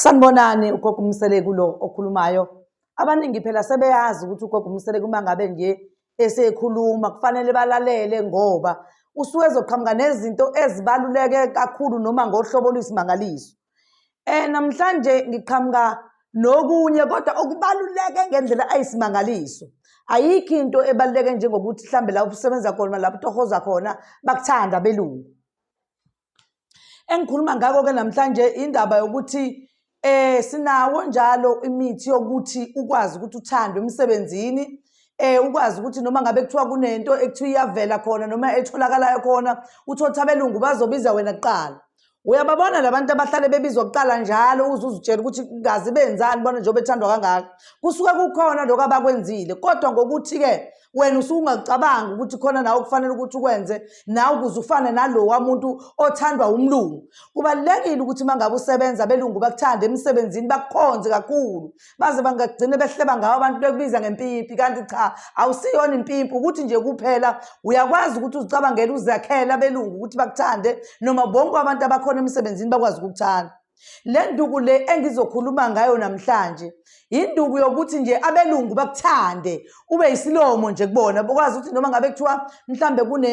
Sanibonani ugogo uMseleku lo okhulumayo. Abaningi phela sebeyazi ukuthi ugogo uMseleku uma ngabe nje esekhuluma kufanele balalele ngoba usuke ezoqhamuka nezinto ezibaluleke kakhulu noma ngohlobo oluyisimangaliso. Eh namhlanje ngiqhamuka nokunye kodwa okubaluleke ngendlela ayisimangaliso. Ayikho into ebaluleke njengokuthi mhlambe la usebenza khona lapho utohoza khona bakuthanda belungu. Engikhuluma ngakho-ke namhlanje indaba yokuthi eh sinawo njalo imithi yokuthi ukwazi ukuthi uthandwe emsebenzini eh ukwazi ukuthi noma ngabe kuthiwa kunento ekuthiwa iyavela khona noma etholakalayo khona uthotha abelungu bazobiza wena kuqala uyababona labantu abahlale bebizwa kuqala njalo uze uzitshela ukuthi kazi benzani bona njengoba ethandwa kangaka kusuke kukhona lokho abakwenzile kodwa ngokuthi-ke wena usungakucabanga ukuthi khona nawe kufanele ukuthi ukwenze nawe ukuze ufane nalowa muntu othandwa umlungu kubalulekile ukuthi uma ngabe usebenza abelungu bakuthande emsebenzini bakukhonze kakhulu baze bangagcine behleba ngawo abantu bekubiza ngempipi kanti cha awusiyona impimpi ukuthi nje kuphela uyakwazi ukuthi uzicabangele uzakhele abelungu ukuthi bakuthande noma bonke abantu abakhona emsebenzini bakwazi ukukuthanda Le nduku le engizokhuluma ngayo namhlanje induku yokuthi nje abelungu bakuthande ube isilomo nje kubona bokwazi ukuthi noma ngabe kuthiwa mhlambe kune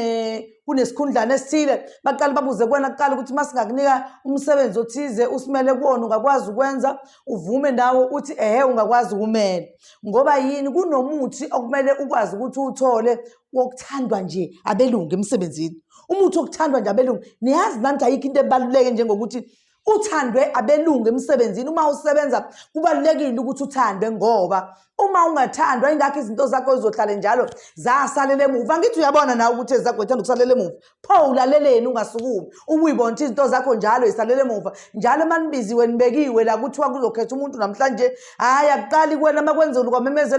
kunesikhundlana esithile baqale babuze kuwena kuqala ukuthi uma singakunika umsebenzi othize usimele kuwona ungakwazi ukwenza uvume nawo uthi ehe ungakwazi ukumela ngoba yini kunomuthi okumele ukwazi ukuthi uwuthole wokuthandwa nje abelungu emsebenzini umuthi wokuthandwa nje abelungu niyazi nanti ayikho into ebaluleke njengokuthi uthandwe abelungu emsebenzini uma usebenza kubalulekile ukuthi uthandwe ngoba uma ungathandwa ingakho izinto zakho zizohlale njalo zasalela emuva ngithi uyabona nawe ukuthi ezakho ethanda ukusalela emuva pho ulaleleni ungasukumi ubuyibona ukuthi izinto zakho njalo isalele emuva njalo emanibiziwe nibekiwe la kuthiwa kuzokhetha umuntu namhlanje hhayi akuqali kuwena uma kwenzulu kwamemeza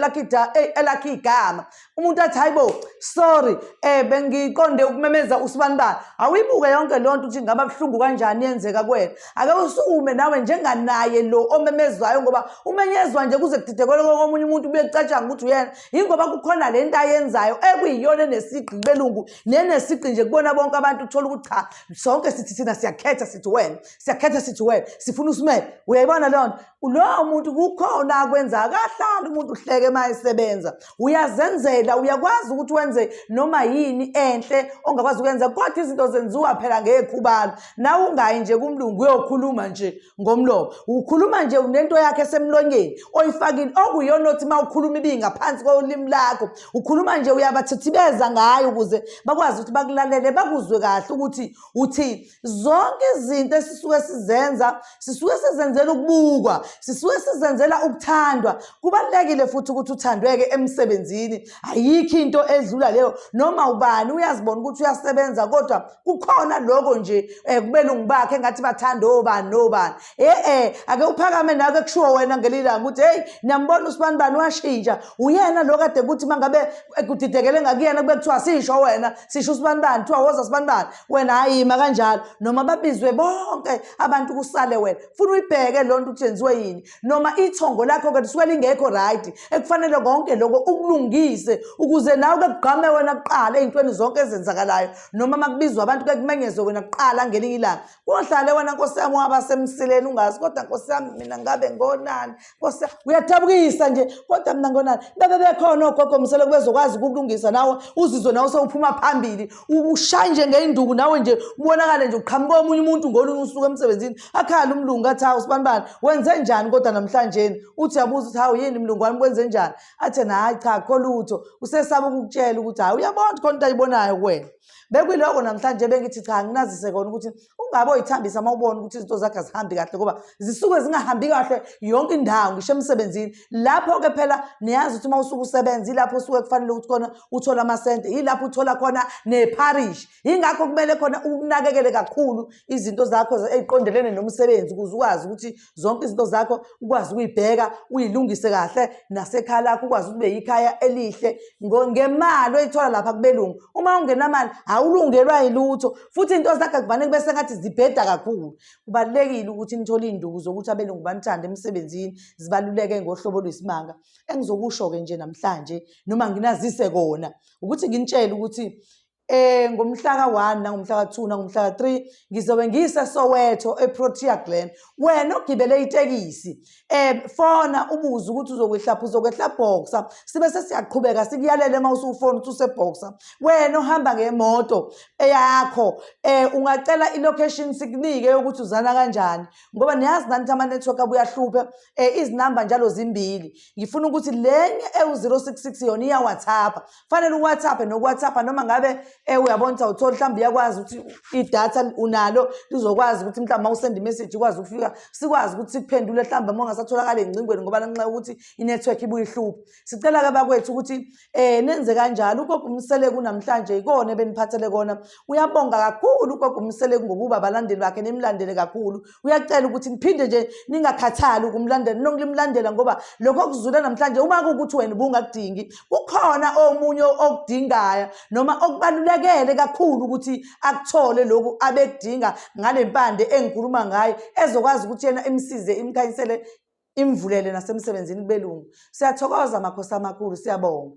elakhe igama umuntu athi hayi bo sorry um eh, bengiqonde ukumemeza usibani bani awuyibuke yonke loo nto ukuthi ngaba buhlungu kanjani yenzeka kuwena ake usukume nawe njenganaye lo omemezwayo ngoba umenyezwa nje kuze kudidekele komunye umuntu kuye kucatshanga ukuthi uyena yingoba kukhona le nto ayenzayo ekuyiyona enesigqi belungu nenesigqi nje kubona bonke abantu uthola ukuthi cha sonke sithi thina siyakhetha sithi wena siyakhetha sithi wena sifuna usimele uyayibona leyo nto lowo muntu kukhona akwenza akahlali umuntu uhleke uma esebenza uyazenzela uyakwazi ukuthi wenze noma yini enhle ongakwazi ukwenza kodwa izinto zenziwa phela ngekhubalo nawe ungayi nje kumlungu uyokhuluma nje ngomlomo ukhuluma nje unento yakhe esemlonyeni oyifakile okuyona othi uma ukhuluma ibingaphansi kolimi lakho ukhuluma nje uyabathithibeza ngayo ukuze bakwazi ukuthi bakulalele bakuzwe kahle ukuthi uthi zonke izinto esisuke sizenza sisuke sizenzela ukubukwa sisuke sizenzela ukuthandwa kubalulekile futhi ukuthi uthandweke emsebenzini ayikho into edlula leyo noma ubani uyazibona ukuthi uyasebenza kodwa kukhona lokho nje um kubelungu bakhe engathi bathanda obani nobani e-e ake uphakame nake kushiwo wena ngelilanga ukuthi heyi niyambona usibani bani washintsha uyena lo kade kuthi uma ngabe eh, kudidekele ngakuyena kube kuthiwa sisho wena sisho usibani bani kuthiwa woza sibani bani wena hhayi yima kanjalo noma babizwe bonke abantu kusale wena funa uyibheke loo nto ukuthi yenziwe yini noma ithongo lakho ke lisuke lingekho right ekufanele konke lokho ukulungise ukuze nawe ke kugqame wena kuqala ezintweni zonke ezenzakalayo noma makubizwa abantu ke kumenyezwe wena kuqala ngelinye ilanga kohlale wena nkosi yami waba semsileni ungazi kodwa nkosi yami mina ngabe ngonani nkosi uyathabukisa nje kodwa mina ngonani bebe bekhona ogogo msele kubezokwazi ukulungisa nawe uzizwe nawe sewuphuma phambili ushaye nje ngey'nduku nawe nje ubonakale nje uqhamuka omunye umuntu ngolunye usuku emsebenzini akhala umlungu athi hawu sibanibani wenze njani kodwa namhlanjeni uthi yabuza ukuthi hawu yini mlungu wami kwenze njani athe hhayi cha kho lutho usesaba ukukutshela ukuthi hhayi uyabona khona into ayibonayo kuwena bekuyiloko namhlanje bengithi cha nginazise kona ukuthi ungabe oyithambisa uma ubona ukuthi izinto zakhe azihambi kahle ngoba zisuke zingahambi kahle yonke indawo ngisho emsebenzini lapho-ke phela niyazi ukuthi uma usuke usebenza yilapho usuke kufanele ukuthi khona uthole amasente yilapho uthola khona nepharishi yingakho kumele khona ukunakekele kakhulu izinto zakho eziqondelene nomsebenzi ukuze ukwazi ukuthi zonke izinto zakho ukwazi ukuyibheka uyilungise kahle nasekhaya lakho ukwazi ukuthi ube yikhaya elihle ngemali oyithola lapha kubelungu uma ungenamali awulungelwa yilutho futhi into zakhe kuvane kube sengathi zibheda kakhulu kubalulekile ukuthi nithole iy'nduku zokuthi abelungu banithande emsebenzini zibaluleke ngohlobo lwesimanga engizokusho-ke nje namhlanje noma nginazise kona ukuthi nginitshele ukuthi eh ngomhlaka 1 nangomhlaka 2 nangomhlaka 3 ngizobe ngise Soweto eProtea Glen wena ogibele itekisi eh fona ubuze ukuthi uzokwehlapha uzokwehla boxer sibe sesiyaqhubeka sikuyalele uma usufona uthi useboxer wena ohamba ngemoto eyakho eh ungacela ilocation sikunike ukuthi uzana kanjani ngoba niyazi nanti ama network abuyahlupha eh izinamba njalo zimbili ngifuna ukuthi lenye ewu 066 yona iya WhatsApp kufanele uwhatsappe nokuwhatsappha noma ngabe um eh, uyabona ukuthi awutholi mhlawumbe uyakwazi ukuthi idatha unalo lizokwazi ukuthi mhlawumbe uma usenda imessage ukwazi ukufika sikwazi ukuthi sikuphendule mhlawumbe uma ungasatholakali engcingweni ngoba lanxa ukuthi inetwork ibuye ihluphe sicela-ke bakwethu ukuthi um nenze kanjalo ugogo umseleku namhlanje yikona ebeniphathele kona uyabonga kakhulu ugogo umseleku ngokuba balandeli bakhe nimlandele kakhulu uyacela ukuthi niphinde nje ningakhathali ukumlandela noklimlandela ngoba lokho okuzula namhlanje uma kuwukuthi wena ubungakudingi kukhona omunye okudingayo noma okubalulekele kakhulu ukuthi akuthole lokhu abekudinga ngale mpande engikhuluma ngayo ezokwazi ukuthi yena imsize imkhanyisele imvulele nasemsebenzini kubelungu siyathokoza makhosi amakhulu siyabonga